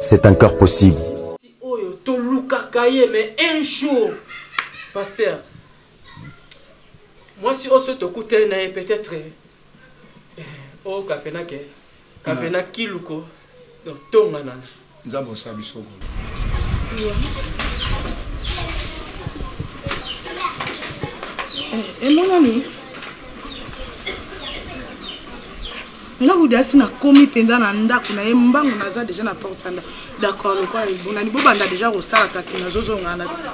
C'est encore possible. Oyo to lukaka ye mais un jour pasteur mwasi oso tokutani na ye peut-être eh, oyoka pena ke Kavena kiluko donc tonga nana. Nzambe osa biso boye. Emonani nga budi asi nakomi mpenza na ndako na ye mbangu naza deja na porte ya ndako D'accord lokola ebonani bobanda deja kosala kasi nazozonga na sika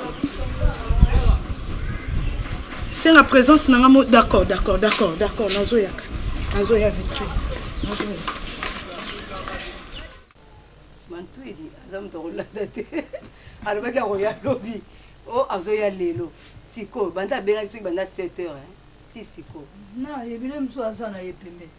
senga présence na nga mo d'accord d'accord d'accord d'accord nazoyaka nazoya vitre nazoya mantuidi aza moto akolanda te alobaki akoya lobi o oh, azoya lelo sikoyo banda abengaki soki banda 7 heures ti sikoyo na yebile mosusu aza na ye pembeni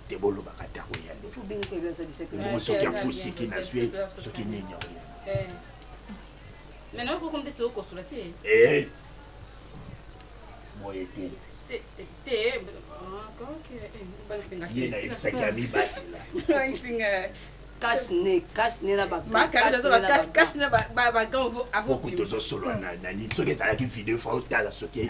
te bolobaka ata koya nde bongo soki akosiki nazwi ye soki nini akoya eh. boye te ye nayebisaki ya mibatela tozosolola na nani soki ezalaki video fa otala soki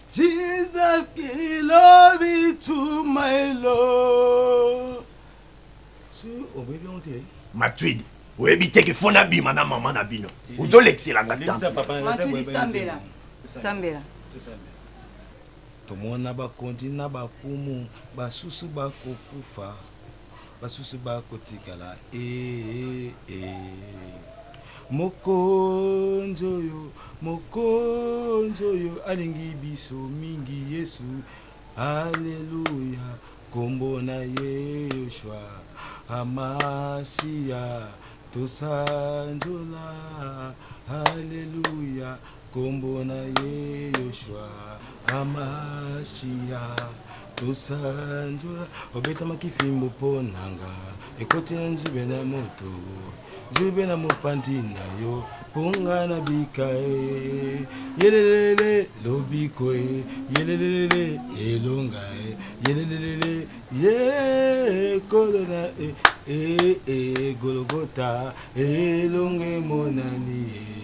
Jesus ki love to my love. Tu obebi on te. Matuidi. oyebi te kifo nabima na mama na bino ozolekselanga sambela sambela tomona bakonzi na bakumu basusu bakokufa Basusu bakotikala eeh eeh. Mokonzi oyo, Mokonzi oyo alingi biso mingi Yesu alleluia kombo na ye Yoshua Hamashia tosanjola alleluia. Kombo na ye Yoshua Amashia tosanzola obetamaki fimbo mpo na nga ekoti na nzube na moto nzube na mopanzi na yo mpo nga na bika e yelelele lobiko e yelelele elonga e yelelele ye kolo na e e e gologota elonga emonani e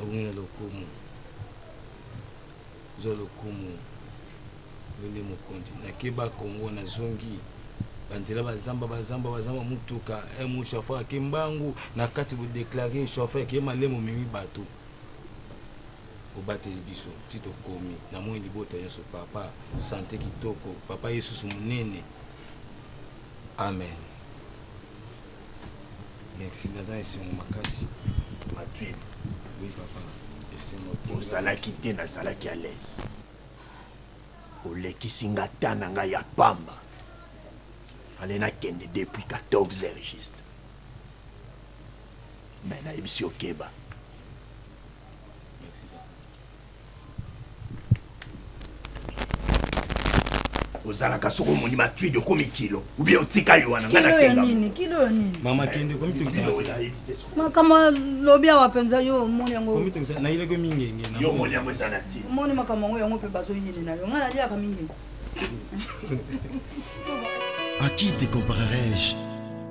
Abongi na lokumu. Zwa lokumu. Yonde mokonzi. Nakeba Congo na zongi. Banzela bazamba bazamba bazamba mutuka. Eh, mu chauffeur ake mbangu na kati bo déclarer chauffeur ake malemo mimi bato. Obateli biso ti tokomi na moyi libota nyonso papa sante kitoko papa yesusu monene amen merci naza na esengo makasi matwin oui papa esengo ozalaki te nazalaki à l'aise olekisi nga ta na ngai ya pamba fale nakende depuis 14 heures juste me nayebisi okeba ozalaka soki omoni matwide okomi kilo obi otikali wana ngai nakengamama kende komitokisamakambo lobi awa mpenza yo omoni yangonaileko mingenge yo omoni yango eza na ntina omoni makambo yango yango mpe bazoyini na yo ngai naliaka mingenge À qui te comparerai-je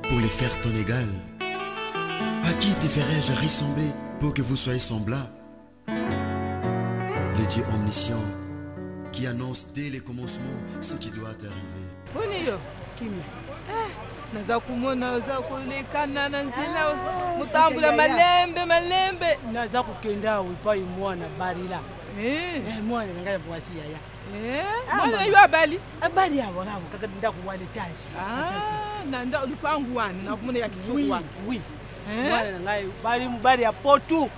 pour les faire ton égal À qui te ferai-je ressembler pour que vous soyez semblables Le Dieu omniscient qui annonce dès le commencement ce qui doit arriver. Boni yo kimia eh, naza komona oza kolekana na nzela ah, motambula malembe malembe naza kokenda awa epai mwana barila eh. Eh, mwana na ngai ya mwasi yaya mwana yo abali abali awa awa kaka ndako wana etage ah, na lupangu wana nakomona ya kitoko wana mwana na ngai bali mobali ya potu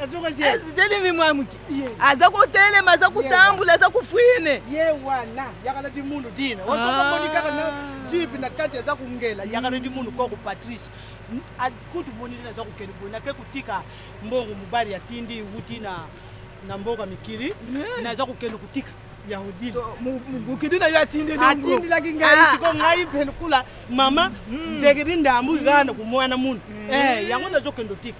azitelemi mwa moke aza kotelema aza kotambula aza kofrine ye wana yakala dimunu dina osomoni kaka na jipe na kati aza kongela yakala dimunu koko patrice kutu moni dina aza kokende boye nake kotika mbongo mobali atindi wuti na na mboka mikili naza kokende kotika mokidi na yo atindelaki ngai ah. siko ngai mpe lokola mama mm. njekedi ndambu ikana komwana munu mm. eh, yango nazokende otika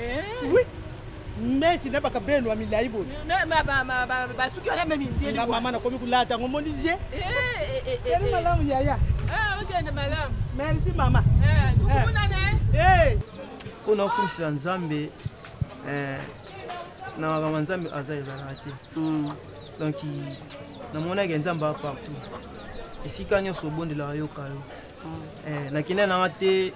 Eh. Oui. Messi na bakabelo ya milai boye. Basuki wana meme ndieli. Na mama nakomi kulata ngo moni je. Eh. Kali malamu yaya. Ah, okende malamu. Merci mama. Eh, tukuna ne. Eh. Mpo na kokumisela Nzambe eh na makambo nzambe aza ezalaka te mm. donc namonaki nzambe a partout esika nyonso obondelaka yoka yo Eh, na kende na te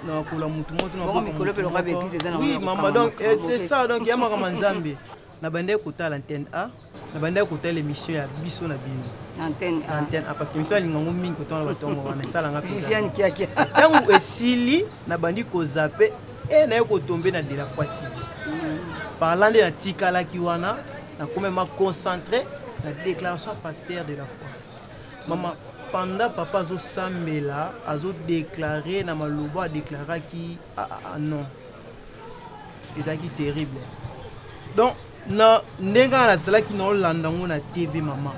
na kola mutu moto na mikolo pe lokola bebise eza na oui mama donc eh, c'est ça donc ya makambo nzambe na bandaki kotala antenne a na bandaki kotala émission ya biso na bino antenne a antenne a parce que émission alinga ngo mingi kotanga na batongo wana esalanga viviane kiakia ntango esili na bandi kozape e eh, naye kotombe na de la foi tv mm. parlant nde natikalaki wana nakomema concentre na déclaration pasteur de la foi Maman pendant papa azo sambela azo declare na maloba a declaraki aah non ezalaki terrible donc na ndenge nga nazalaki na olanda ngo na TV maman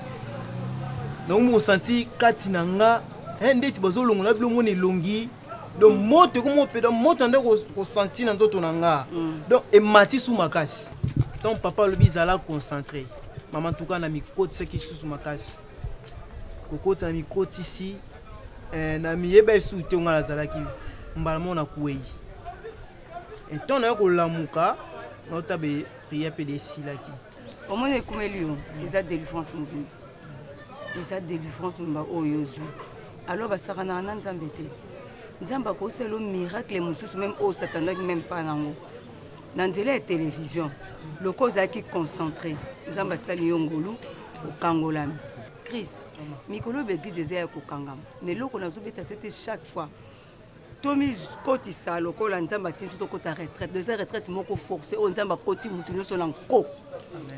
nakomi kosanti kati na nga eh, ndeti bazolongola bilongo na elongi donc moto ekomi ope donc moto nande kosanti na nzoto na nga mm. donc emati su makasi donc papa alobi zala concentré mama ntuka na mikotisaki lisusu makasi kokotisa na mikotisi eh, na miyeba lisusu te ngai nazalaki mbala moko na kuei ntango nayo kolamuka naotabe priere mpe desilaki omoni ekumeli yo eza delivrance mobimba eza delivrance mobimba oyo ozwi alors basakanaka na nzambe te nzambe akosala yo miracle mosusu meme oyo satanaki meme mpa nango na nzela ya televizio loko ozalaki concentré nzambe asali yo ngolu okangolami crise mikolo oyo baeglize eza ya kokangama ma eloko nazobeta se te chaque fois Tomi kotisa lokola nzambe atindi biso tokota retraite eza retraite moko force oyo nzambe akoti motu nyonso na nko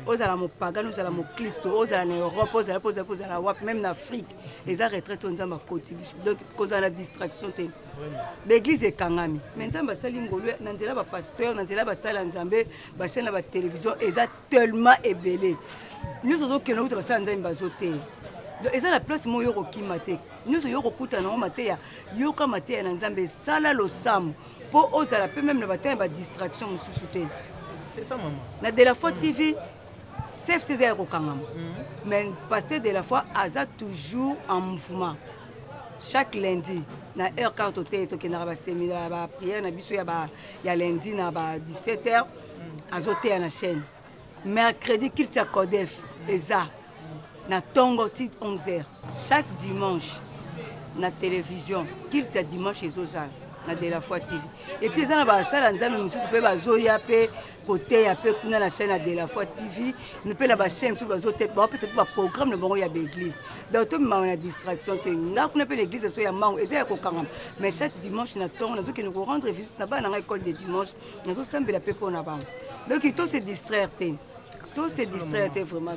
ozala mopagani ozala moklisto ozala na europe ozala mpo ozali kozala wapi meme na afrique eza retraite oyo nzambe akoti biso donc kozala na distraction te baeglise ekangami mais nzambe asali ngolu na nzela ya bapasteur na nzela ya basali ya nzambe bachaine ya batelevision eza tellement ebele nyonso ozokenda kuta basala nzambe bazoteya donc eza na place moko yo kokima te nyonso yo kokutana yango mateya yoka mateya na nzambe sala losambo mpo ozala mpe meme na batala ya badistraction mosusu te na de la foi tv cfc eza ya kokangama mm. mais pasteur de la foi aza toujours en mouvement chaque lundi na heure kaka toteyi tokendaka baseminaire baprière na biso ya lundi na ba 17 heures azoteya na chaîne mercredi culte ya codef eza na tongo ti 11 heures chaque dimanche na télévision culte ya dimanche ezozala na de la foi tv epuis eza na basala nzambe mosusu mpe bazoya mpe koteya mpe kuna na chaîne ya de la foi tv mpe na bachaîne mosusu bazoteya baopesa mpe baprogramme na bango ya baeglise donc tomimaka na distraction te nga kuna mpe na église so ya mango eza ya kokangama mais chaque dimanche na ntongo nazokende korendre visite na bana na ngai école de dimanche nazo sambela pe pona bango donc to se distraire te to se distraire te vraiment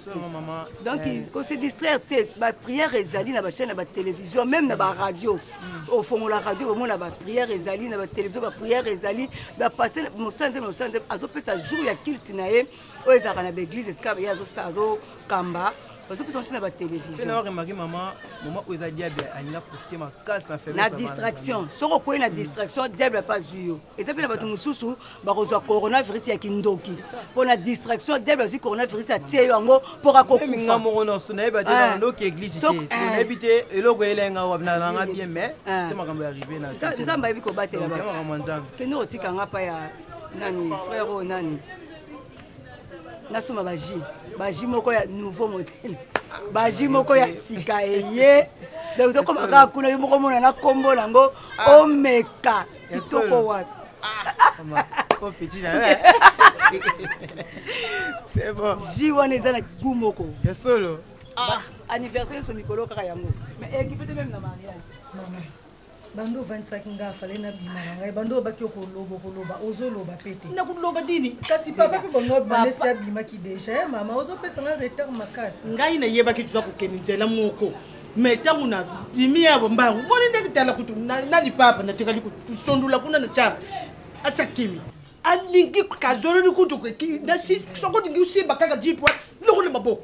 donc eh. ko se distraire te ba prière ezali na ba chaîne na ba télévision même na ba radio hmm. ofongola radio bomona ba prière ezali na ba télévision ba prière ezali ba passer mosanze mosanze azopesa jour ya culte na ye oyo ezalaka na baeglise esika ye azokamba bazopesa banso na batelevisionremaki mama mama oyo eza diable alinga profite makasi na faiblesse na distraction soki okwei na distraction diable ape azwi yo eza mpe na bato mosusu bakozwa coronavirus ya kindoki mpo na distraction diable azwi coronavirus atie yo yango mpo kakokufa moko nyonso nayebi ate ah. ndoki eglise te eh. nayebi te eloko elenga nanga bien mais ah. te makambo ya rive na nzambe ayebi kobatela kende otika nga mpa ya nani frère oyo nani nasomba baji baji moko ya nouveau modele baji moko ya sika eye donc tokoma kaka kuna yo moko omona na nkombo nango ah. omeka kitoko wapi ji wana eza na gu moko ya solo ah. anniversaire nyonso mikolo kaka yango mais ekipe te meme na mariage banda ovandisaki nga fale na bima na ngai banda obaki okoloba okoloba ozoloba pe te nakoloba nini kasi papa pe bongo banesi abimaki deja ya mama ozopesa nga retard makasi ngai nayebaki toza kokende nzela moko me ntango na bimi ya bombangu moni ndenge tala kutu na lipapa natikali kosondola kuna na cap asakimi alingi kazololi kutu nasi soko olingi osimba kaka jipwa lokola maboko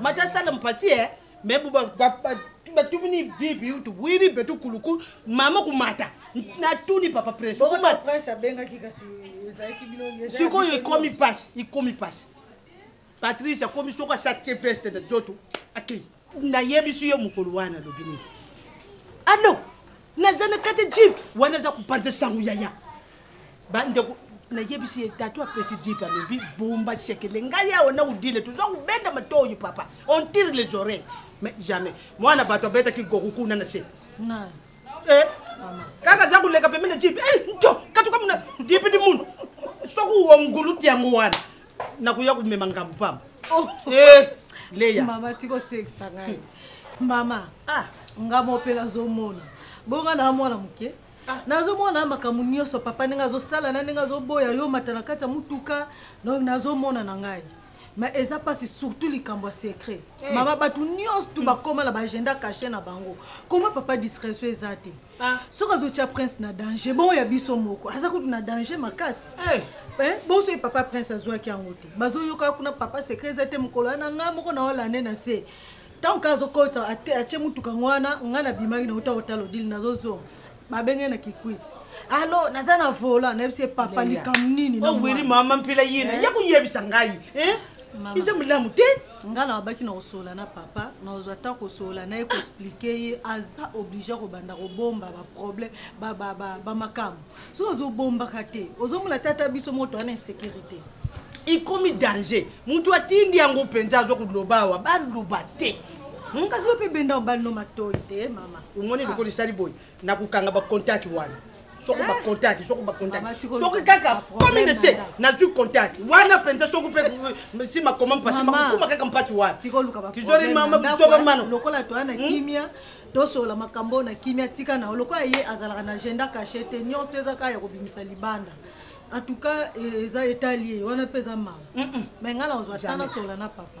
mata sala mpasi eh. me batumini dibi utu bwiri betu kulukulu mama kumata natuni papa prince sikoyo ikomi mpasi ikomi mpasi patrice akomi soki asatie veste na nzoto akei nayebisi yo mokolo wana alobi nini alo naza na kati jeep wana aza kopanza sango yaya bandeko nayebisi ye tatu apesi jeep alobi bomba sekele ngai awa na odile toza kobenda matoyi papa on tire les oreilles mais jamais mwana bato abetaki goku kuna na se eh, kaka aza koleka pembe na jeep eh, nto katukamuna dipidi munu soki wongulu tiango wana nakoya komema ngambo pamba oh. eh, leya mama tikosekisa ngai mama ah. nga mope nazomona bonga na mwana moke ah. nazomona makambo nyonso papa ndenge azosala na ndenge azoboya yo mata na kati ya motuka nazomona na ngai mais eza mpasi surtout likambo ya secret eh. mama bato nyonso tu bakóma na baagenda cache na bango koma papa discrétion eza te Ah. soki azotya prince na danger bongo ya biso moko aza kutu na danger makasi hey. Eh. Eh, boso ye papa prince azwaki yango te bazoyoka kuna papa secret eza te mokolo wana ngai moko na olande na se ntango kaka azokota atye motuka yango wana ngai nabimaki na uta kotala odili nazozonga babenge na kikwiti alo naza na vola nayebisi ye papa likambo nini oweli oh, mama mpela yena eh? ya koyebisa ngai eza molamu te Nga na lobaki nako solola na papa nako zua temps ko solola naye ko explique ye aza oblige yako banda ko bomba ba problème ba ba ba ba makambu soki ozo bombaka te ozo mona te ata biso moko toza na insecurite ekomi danger mutu atindi yango penza azo ko loba awa ba loba te hum kasi yo pe benda obali no matoyi te mama omoni lokola esali boye nako kanga ba contact wana soko ba contact soko ba contact soki kaka komi na se nazwi contact wana mpenza soki mpe nsima koma mpasi makokuma kaka mpasi wana kizori mama bisoba mano lokola toya na hmm? kimia tosolola makambo na kimia tika na yo lokola ye azalaka na agenda cache te nyonso to eza kaka ya kobimisa libanda en tout cas eh, eza etali ye wana mpe eza mama me ngai na kozwa ta nasolola na papa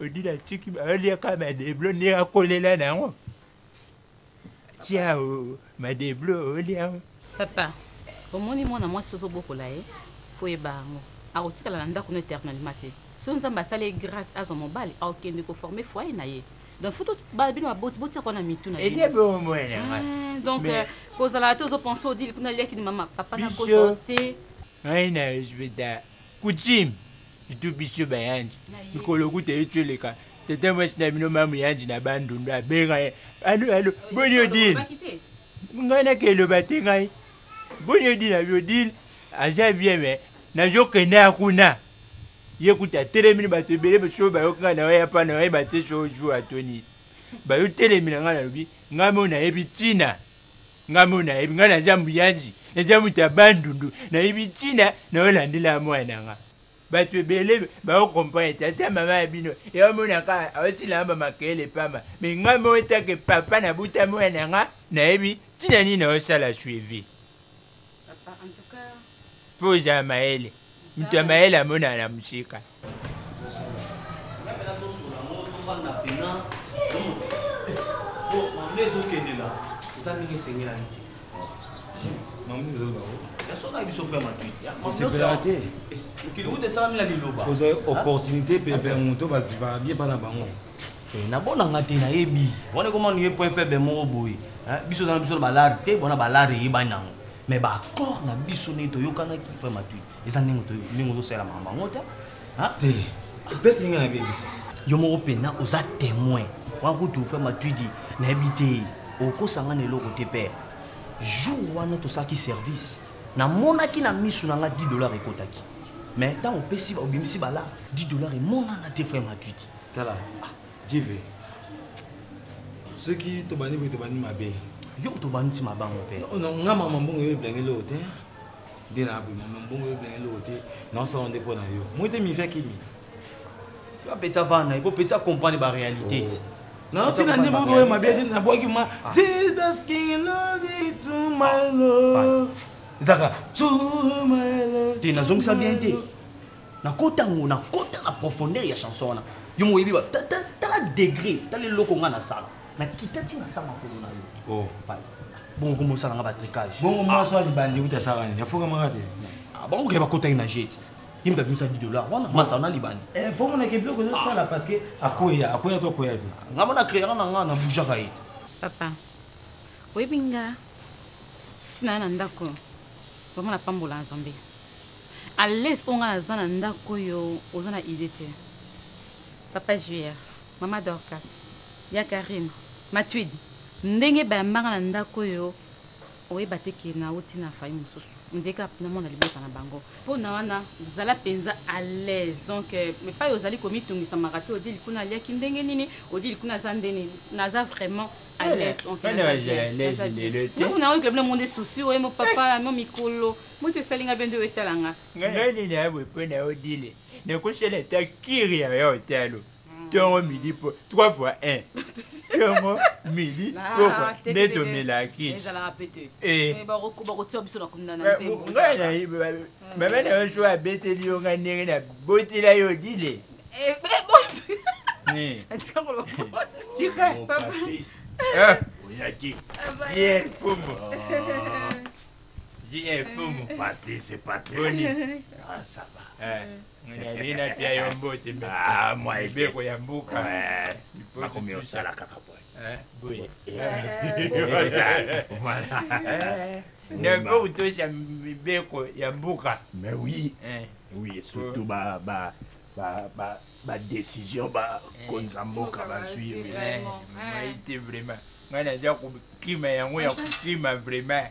Odile atiki baolia kaka madeblo nde akolela na yango tia madeblo olia yango papa omoni mwana mwasi ozobokola ye foyeba yango akotikala na ndako no éternellement te soki nzambe asali ye grâce azwa mobali akokende koforme foye na ye donc fo bino baboti botiaka wana mitu na bino eh, donc euh, kozala te ozopense odile kuna aliaki ni mama papa nakoso te Ngai na respecta coutume surtout biso ba yandi mikolo kuta etu eleka tata mwasi na bino mamu yandi na bandundu abenga ye alo alo boni odile ngai nake eloba te ngai boni odile abi odile aza bien me nazokende ya kuna ye kuta atelemini bato ebele basoyo bayoki ngai na oya mpa na oyeba te so ozwi ato nini bayotelemi na ngai nalobi ngai mo nayebi ntina Nga moko nayebi nga naza muyanzi naza mutu ya bandundu nayebi tina nao landela muana nga batu ebele bao comprendre te ata mama ya bino eo mona ka aotila nga ba makele pamba mais nga moko take papa na buta muana nga nayebi tina nini nao sala suivi papa en tout cas faut ozala mayele mutu ya mayele amonana na musika opportunité mpe mpe moto baviva bie bana bango nabonanga te nayebi wana ekomani ye point faible moko boye biso ozana biso na balare te bona balare eyebani nango mais baaccord na biso nde toyokanaki frère matui eza ndenge ndenge ozosalela makambo yango te te epesi ngai nabebisa yo moko mpena oza témoin wana kutu fre matwidi nayebi te okosanga na eloko te père jour wana tosalaki service namonaki na miso na ngai 10 dollar ekotaki mais ntango opesi obimisi bala 10 dollar emonana te fre matwidi tala ah. jive soki tobandi boye tobandi mabe yo moto obandi ti mabango mpe nga mama mbongo yo eblangeli oyo te nde na bima ma mbongo yo bilenge loko te na osala nde mpo na yo moi te mivia kimi tika peta vanda eko peta comprendre ba réalité ti oh. na otina nde moko oyo mabe te na bwaki ma ah. jesus king love you to my ah. lord ezaka to my lord te nazongisa bien te nakota ngo nakota na profondeur ya chanson wana yo moyebi ba tala degré tala eloko ngai nasala Na kita ti na sa makolo na yo. Oh. Bongo comme ça na nga ba tricage. Bongo moi soit libandi uta sa rani. Ya foka mangate. Ah bongo ke ba kota ina jet. Ye mta bimisa 10 dollars. Wana masa na libandi. Eh faut mon ke biloko zo sala ah. parce que akoya, akoya to akoya te. Nga mona créer na nga na bouja ka yete. Papa. Oyebi nga tina na ndako. Vraiment na pambola Nzambe. À l'aise onga na za na ndako yo oza na idée te. Papa Juillet. Maman Dorcas, ya Carine, Matuidi, ndenge bayamba nga na ndaku oyo oyeba te ke nawuti na famille mususu, on dirait kaka na mona libota na bango. Pona wana zala penza à l'aise donc epayi ozali komitungisa maka te Odile kuna aliaki ndenge nini, Odile kuna aza nde nini, naza vraiment à l'aise donc naza bien, naza bien. Yo kuna oyo koloba na ngo nde souci oye mo papa na ngo mikolo mutu esali nga bien nde oye tala nga. Nga ngai nini ya boye pona Odile, nakosala ata cure ya hotel. ntongo midi po trois fois un ntongo midi pokwa nde tomelaki ngai nayibi mama na yo so abeteli yo ngai ndenge nabotela yo dile oyaki ye mfumu ye mfumu patrice patrice boni ah, ça va eh. Nani na pia yo mbote me. Ah, moi. Mibeko ya mboka. Ouais. Bakomi osala kaka boy. Hein, boy. Voilà. Neve utosha mibeko ya mboka. Mais oui. Hein. Oui, surtout ba ba ba ba ba décision ba konza mboka bazwi. Vraiment. Moi, vraiment. Ngai naza kokima yango ya kokima vraiment.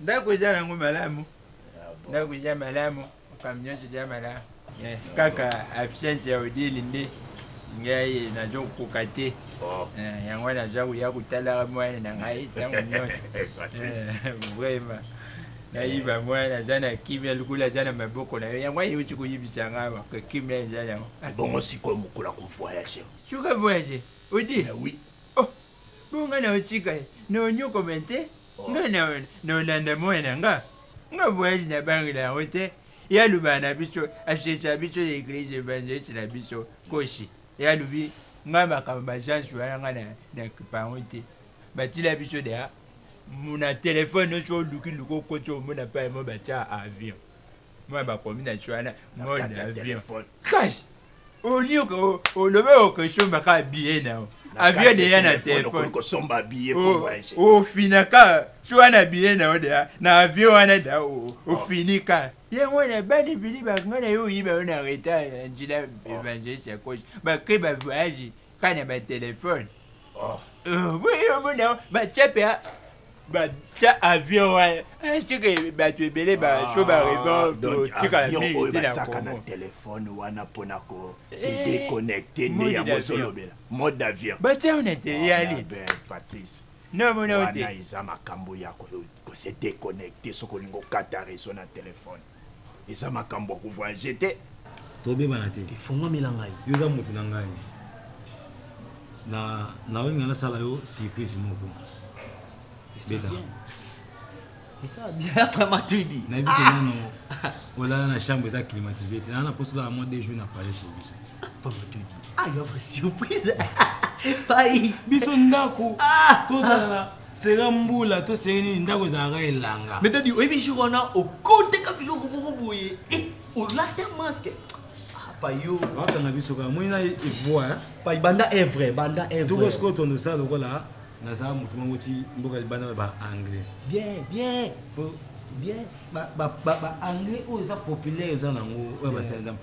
Ndaku eza nango malamu. Ndaku eza malamu, makambo nyonso eza malamu. Kaka absence ya Odile nde ngai nazo koka te. Eh, yango wana naza koya kotalaka mwana na ngai ntango nyonso. Eh, vraiment. Nayiba mwana naza na kimia lokola aza na maboko na yo. Yango wana euti koyibisa ngai awa que kimia eza nango. Ebongo sikoyo mokolo ako voyager? Soki a voyager? Odile? Eh oui. Oh! Bongo nga na otika ye, na onyokoma te, nga na na olanda mwana nga. Nga voyage na bangela yango te, ye aloba na biso, asesa biso na eglise evangeliste na biso Kosi, ye alobi nga makambo ba agence wana nga na na kipa yango te, batila biso deja na telephone, soki oluki luka okoti omona epai moko batia avion. moi bakomi na chwana mode avion cash olie olobe okosomba kaka biye nao avion deya na telefone ofina kaka so wana biye nao deya na avion wana da ofini kaka yango wana bani bini bango na yo oyiba yo na reta na njila evangeliste ya kosi bakre bavoyage Kaka na ba telephone. Oh. Uh, oui, omona ba chepe a ba ta avion wa. Eh, sike ba tu ebele ba ah, so ba raison to tika la mi ti na ko. na telephone wana pona ko eh, se déconnecter ne ya bozolobela. Mode d'avion. Ba tia on était yali. Ben Patrice. Non, mon wana eza makambo ya ko se déconnecter soki olingi okata réseau na telefone Eza makambu ya ko voyager te. Tobebana te. Efonguamela ngai. Yo oza mutu na ngai. Na, naolinga nasala yo surprise moko. Eza bien. Eza bien après Matuidi. Nayebi ke nano olala na chambre eza climatisée te. Nana naposi olala mwa deux jours na palais chez biso. Papa Matuidi. Ah, yo après surprise. Pai. Biso ndako. Tozala na sera mbula to sere nini ndako ezalaka elanga mais dadi oyebi jour wana okoteka biloko moko boye eh, olata masque ah, payo bakanga biso kaka moi na evoa eh, pai banda evre banda evre toko sikoyo tondo sala lokola naza moto moko ti mboka libanda ba anglais bien bien bien ba anglais oyo eza populaire eza nango oyo basala nzambe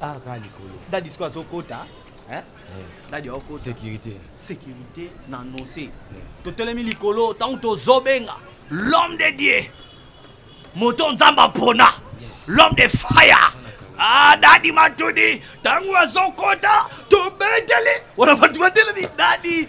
Ah, kaka likolo. Dadi sikoyo azokota. Hein? Eh. Dadi aokota. Sécurité. Sécurité na annonce. Eh. Totelemi likolo ntango tozobenga l'homme de Dieu. Moto Nzambe apona. Yes. L'homme de fire. Ah, dadi matudi ntango azokota tobeteli wana bato batelemi dadi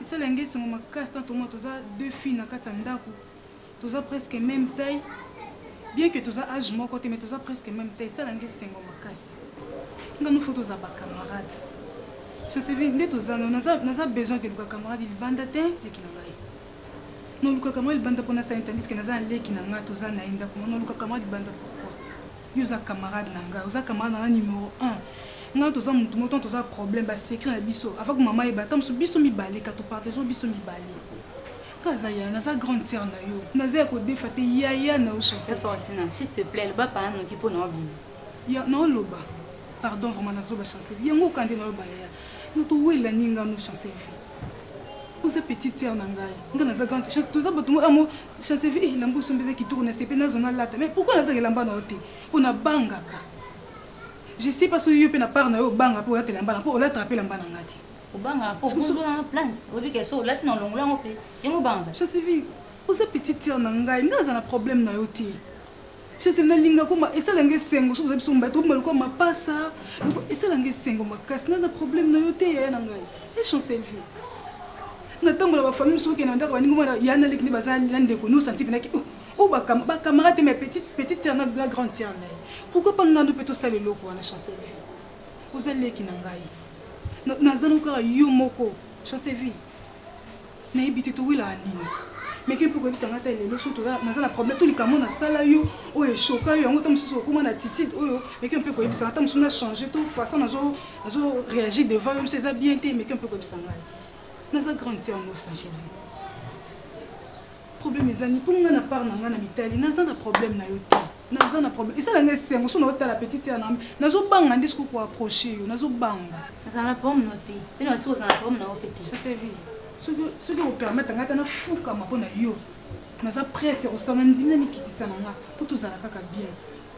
Esali ya nga esengo makasi na tomona toza deux filles na kati ya ndaku toza presque meme taille bien que toza age moko te mais toza presque meme taille esala nga esengo makasi nga no faut toza ba camarade je sais bien nde toza no naza naza besoin que luka camarade libanda te leki na ngai no luka camarade libanda pona sa intandis que naza na leki na nga toza na ye ndaku no luka camarade libanda pourquoi Yo oza camarade na nga oza camarade na nga numero un nga na toza mutu moko tango toza problème ba secret na biso avant que maman ayeba ata musu biso mibale ka to partageons biso mibale nga aza yaya naza grande sœur na yo naza ya kodefa te yaya na yo chancel Fortina s'il te plaît loba pana noki po na obima ya na oloba pardon vraiment nazoba chancel yango oka nde na oloba yaya na towela ni nga no chancel vie oza petite sœur na ngai nga naza grande chance toza bato moko amo Chancevie eh elamba osombi eza kitoko na sepeli nazo na lata mais pourquoi nalataka elamba na yo te po na bangaka je sais pas soki yo pe na part na yo obanga pe olata elamba na po olataka pe elamba na nga te obanga po kozwa na plante oyebi ke so olati na olongola yango pe yango obanga Chancevie oza petite sœur na ngai ngai aza na problème na yo te Chesel na linga koma esala nga esengo soki oza biso mobali tobima lokola mapasa loko esala nga esengo makasi na na problème na yo te yaya na ngai e chancel vie na ntango na bafamille mosusu okende na ndako baningi mwana ya na leki nde baza na ndeko no santi mpenaki o oh, oh, bacamarade te mai petite petite tiare na la grande tiare na ye pourquoi pas ngandu mpe tosala eloko wana chancel vie oza leki na ngai naza nokaka yo moko chancel vie Nayebi te towelaka nini. Mais ke mpe koyebisa nga ata lelo soki toza naza na problème to likambo na sala yo oyo e choka yo yango ta mususu okoma na attitude oyo mais ke mpe koyebisa nga ta mususu na changer to façon nazo nazo reagir devant yo mususu eza bien te mais ke mpe koyebisa nga naza grande sœur no sa chérie problème eza ni mpo nga na part na nga na mitali naza na problème na yo te Naza na problème esala nga esengo so nao tala petite sœur na nga nazo banga nde siko ko approcher yo nazo banga nazala na problème no te pe na tiko zala na problème na yo pe te ça c'est vie soki soki o permettre nga ta na fuka ma pona yo naza prête ya kosala ndimi na mikitisa na nga po tozala kaka bien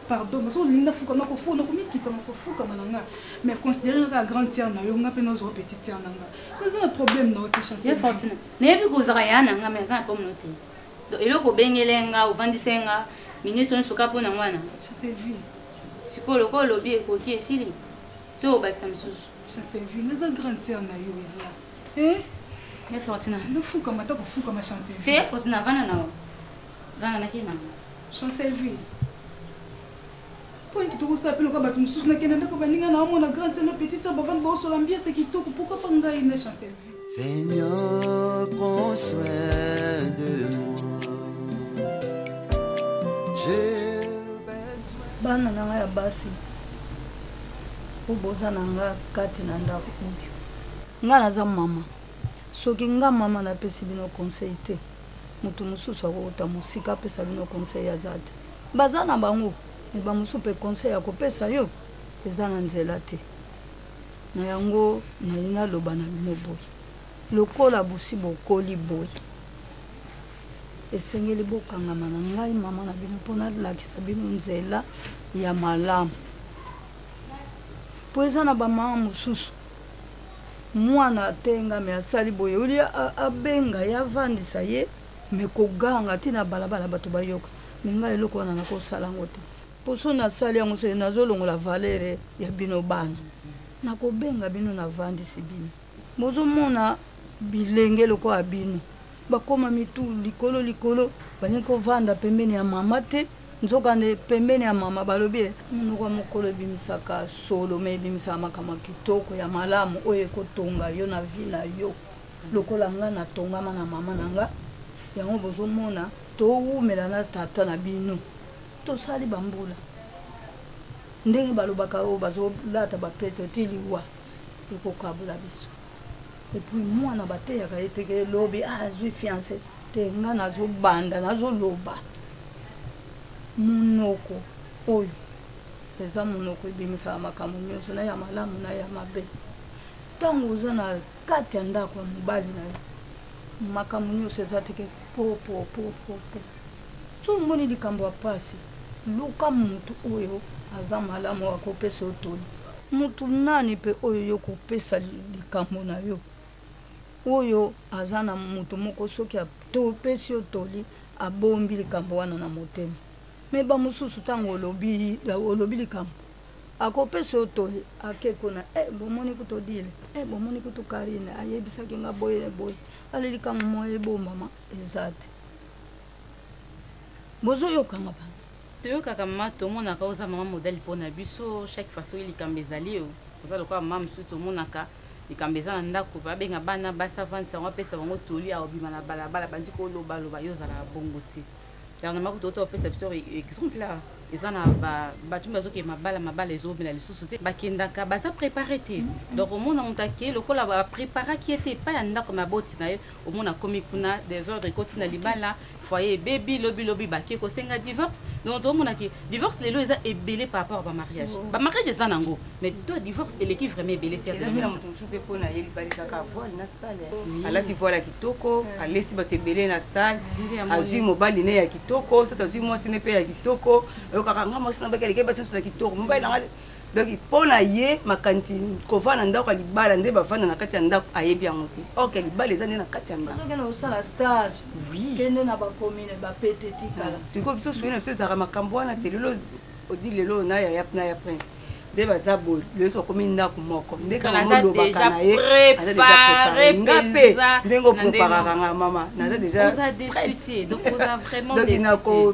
pardon mais soki olingi nafuka nakofuka nakomikitisa nakofukama na nga mais considere nga kaka grande tiare na yo nga mpe nazwa petite tiare na nga naza na problème na yo te chance nayebi kozala ya na nga mais aza na problème na yo te Donc eloko obengele nga ovandise nga minute nionso kaka pona mwana? Ça se vit. Sikoyo lokola olobi ekoki esili to obakisa misusu? Ça se vit. Naza grande sœur na yo Yaya. Eh? Ya Fortuna. Na fukama ta ko fukama chance se vit. Te Fortuna vanda na yo. Vanda na kina. Chance se vit. Point toko sa pelo ka batu mususu na kenda ndako baninga na omona grande sœur na petite sœur bavandi ba osola mbiasa kitoko pourquoi pas ngai na chance se vit. Seigneur, prends soin de moi. J'ai besoin. Bana na ngai ya basi oyo boza na nga kati na ndako oyo ngai naza mama soki nga mama napesi bino conseil te moto mosusu akouta mosika apesa bino conseil aza te baza na bango me bamosusu mpe conseil ya kopesa yo eza na nzela te Na yango, nalingi naloba na bino boye, lokola bosi bokoli boye, esengeli bokangama na ngai, mama na bino, mpo nalakisa bino nzela ya malamu. Mpo eza na bamama mosusu, mwana atengami, asali boye, olie abenga ye, avandisa ye, me koganga ti na balabala bato bayoka, me ngai eloko wana nakosala yango te. Poso nasali yango se nazo longola valeur ya bino bana nako benga bino na vandisi bino bozo mona bilenge lokola bino bakoma mitu likolo likolo balingi ko vanda pembeni ya mama te nzoka nde pembeni ya mama balobi munoko ya mokolo ebimisaka solo mais ebimisaka makambo ya kitoko ya malamu oyo eko tonga yo na vie na yo lokola nga na tongama na mama na nga yango bozo mona to wumela na tata na bino. Tosali ba mbula ndenge balobaka oyo bazo lata ba pete ti liwa ekokabola biso epuis mwana bateyaka ye te ke lobi ah, azwi fiance te nga nazo banda nazo loba monoko oyo eza monoko ebimisaka makambo nyonso na ya malamu na ya mabe ntango oza na kati ya ndako ya mobali na yo makambo nyonso eza teke popopopopo Soki omoni likambo ya pasi, luka mutu oyo aza malamu ako pesa yo toli. Mutu nani pe oyo yo ko pesa likambo na yo, oyo aza na mutu moko soki a pesi yo toli a bombi likambo wana na motema. Mais ba mususu tangu olobi likambo, ako pesa yo toli a ke kuna eh bo moni kutu Odile, eh bo moni kutu Carine a yebisaki nga boye na boye. Allez likambo moye e bombama. Eza te. Bozo yoka nga pardon. Toyokaka maman tomonaka oza maman modèle pona biso chaque fois soki likambo ezali yo oza lokola maman mususu tomonaka likambo eza na ndaku babenga bana basi avandisa bango apesa bango toli akobima na balabala abandi koloba loba yo ozalaka bongo te dernièrement kutu outa kopesa biso exemple awa eza na ba batu mibale bazokende mabala mabala ezowumela lisusu te bakendaka baza prepare te donc omona mutu akei lokola ba preparaki ye te epai ya ndaku ya baboti na ye omona akomi kuna desordre ekoti na libala foyer ebebi lobi lobi bake kosenga divorce donc toomona ke divorce lelo eza ebele par rapport ba mariage oh. ba mariage eza nango mais to divorce eleki vraiment ebele si eza na moto mosusu mpe mpo na ye libala ezaka voile na sale alati voile ya kitoko mm. alesi bato ebele na sale azwi mobali ne ya kitoko soki azwi mwasi ne mpe ya kitoko oyokaka nga mwasi na baki aleki basi nyonso na kitoko mobali na nga Donc mpo na ye makanisi kovanda na ndako ya libala nde bavanda na kati ya ndako ayebi yango te or ke libala eza nde na kati ya ndakokende kosala stage kende na bakomine bapete tikala ah, sikoyo biso soki na biso ezalaka makambo wana te lelo odi lelo na yaya na ya prince nde baza boye leso akomi ndako moko nde kaka molobaka na ye aza deja prepare nga mpe ndenge opreparaka nga mama naza deja donc nako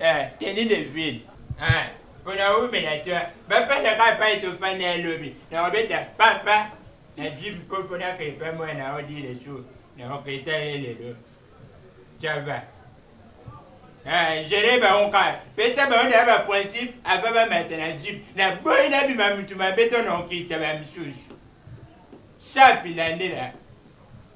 eh, tenue de ville eh, pona oumela te bafanda kaka pai tofanda ya lobi nakobeta papa na jipe po pona kepa mwana odile su nakopeta ye lelo cava Eh, jere bango kaka pesa bango na ya baprincipe ava bamata na jipe na boyi nabima motu mabe to na okitisa bamisusu sapi landela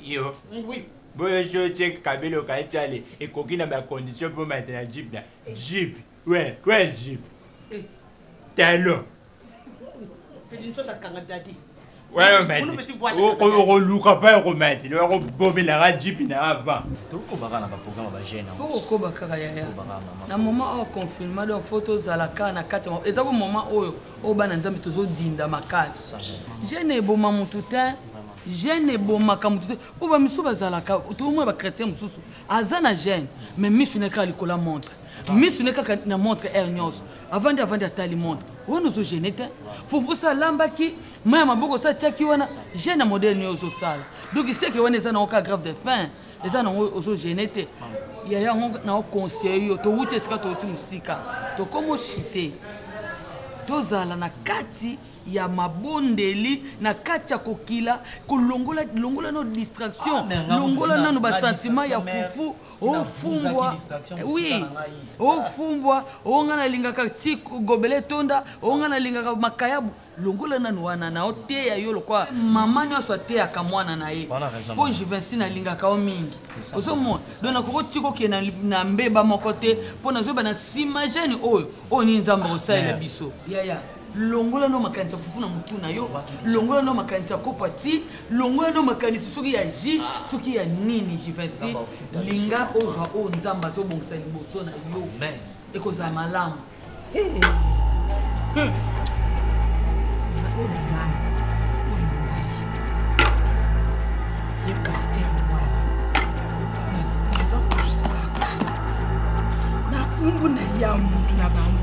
Yo, oui. Boye je check kabelo ka etiale ekoki na ba conditions pour mettre la jeep là. Jeep. Ouais, ouais jeep. Eh. Talon. Fais une chose à kanga daddy. okoluka mpe okomatela okobomelaka jipi na avant tokobaka na baprograme bagene fo kokoba kaka yaya na moment oyo confirma donc fo tozala kaka na kati eza bo moment oyo oyo bana nzambe tozodinda makasi gene eboma motu te Gene ebomaka mutu te po ba misusu bazalaka tokomona ba chretien mususu aza na gene mais misu naye kaka likolo ya montre misu naye kaka na montre heure nyonso avandi avandi atali montre wana ozo gene te fufu sa alambaki mai ya maboko sa atiaki wana gene ya modele nini ozosala donc iseke wana eza nango kaka grave de fin eza nango ozo gene te ya yango nao conseille yo towuti esika towuti mosika tokomo chite tozala na kati ya mabondeli na kati ya kokila kolongola longola no distraction ah, longola nano ba sentiment ya fufu ofumbwa oui ofumbwa onga nalingaka ti gobele tonda onga nalingaka makayabu longola nano wana na oteya yo lokwa mama nyonso ateyaka mwana na ye mpo juvensi nalingaka yo mingi ozomona don nakoki otika okenda na mbeba moko te mpo nazoyeba na nsima jane oyo oyo nini nzambe akosalela biso yaya longola no makanisi ya kufufu na mutu na yo longola no makanisi ya kopa ti longola no makanisi soki ya ji ah. soki ya nini jivinsi linga ozwa oyo nzambe azobongisa liboso na yo ekozala malamu nakumbu na ya mutu na bango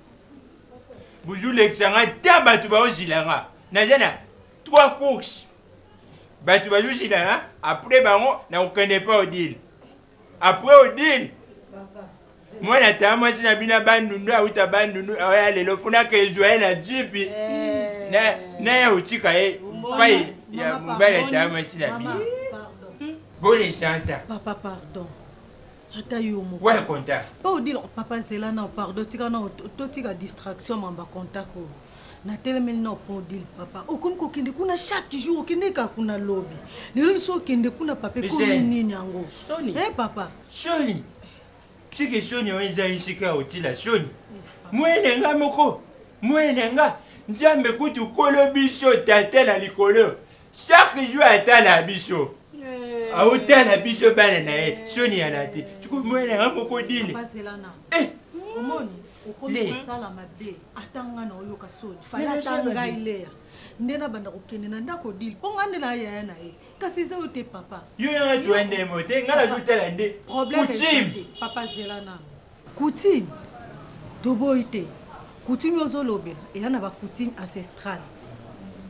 bozolekisa nga ta bato baozila nga naza na trois course bato bazozila nga apres bango nakokende epa odile apres odile mwana taa mwasi na bino bandundu auta bandundu oya lelo funaka ezwa ye na jipi eh. naye otika ye pai ya mobali taa mwasi na bino boni santa papa pardon ata yo moko ouais contact pa odile papa zela nao pardon tika nao totika distraction mamba contact oyo natelemeli nao pa odile papa okomi kokende kuna chaque jour okende kaka kuna lobi lelo liso okende kuna papa ekomi nini yango soni eh papa soni siki soni oyo eza esika ya otila soni mwene nga moko mwene nga nzambe kutu kolo biso tata na likolo chaque jour atala biso aotala eh. biso bana na ye soni ya na te siko moya na nga moko dine eh. omoni okomi kosala mabe ata nga na oyoka soni fale ata ngai lea nde nabanda kokende na ndako dile mpo ngai nde na yaya na ye kasi eza yo te papa yo nanga tuendemo te ngai nazotala nde problème papa zela nano Coutume toboyi te coutume ozo lobela eza na ba coutume ancestrale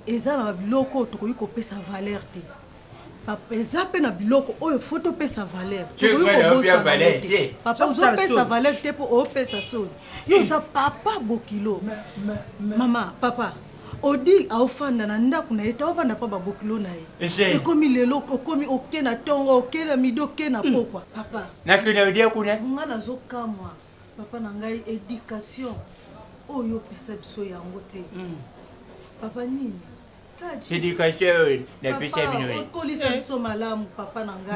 eza na ba biloko oyo tokoki kopesa valeur te papa eza pe na biloko oyo faut topesa valeur tokoki kobosana yango te papa ozo pesa valeur te po opesa soni yo oza papa bokilo mama papa Odile aofanda na ndaku na ye te aovanda pa ba bokilo na ye ekomi lelo okomi oke na tongo oke na midi oke na pokua papa nga nazo kamua papa na ngai education oyo yo opesa biso yango te papa nini papa okolisa biso malamu papa na ngai.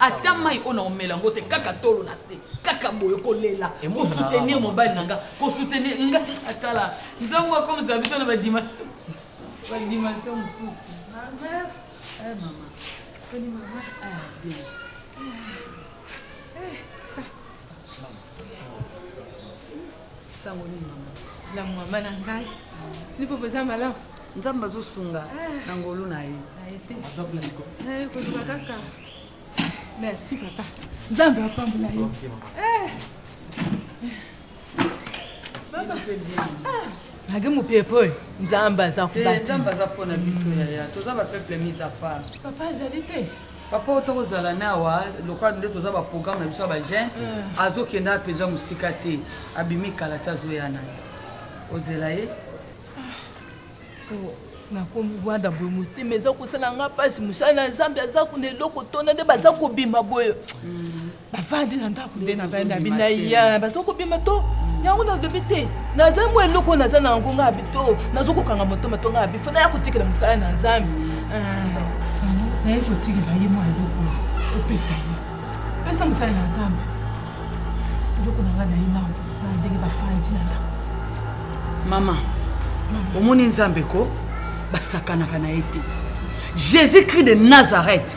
ata mai oyo na omela yango te kaka tolo na se kaka boye kolela kosoutenir mobali na nga kosoutenir nga atala nzango akomisa biso na badimension badimension mosusu sango ni mama na mwamba na ngai nipo mpenza malamu nzambe azosunga ah. na ngolu na ye eh, koluka kaka merci papa nzambe apambola yo eh. nage mopepe oyo nzambe aza kobatinzambe aza mpo na biso yaya toza bapeuple mise a part papa azali te papa oyo toko zala na awa lokola nde toza ba programme na biso ya ba jeune mm. azo kenda apenza musika te abimi kala te azo ya na ye ozela ye ah, oh, nakomi vanda boye motema eza kosala nga mpasi mosala na zambe aza kuna eloko tona nde baza kobima boye mm. bavandi na ndako nde na bana bina ya bazokobima to yango nalobi te naza mwa eloko naza na yango ngai bito nazokokanga motoma to ngai bifo naya kotikela mosala na nzambe ah. naye kotikela ye mwa eloko opesa ye pesa mosala na nzambe eloko na ngai naye nao na ndenge bafandi na ndako mama omoni nzambe ko basakanaka na ye te jésus christ de nazareth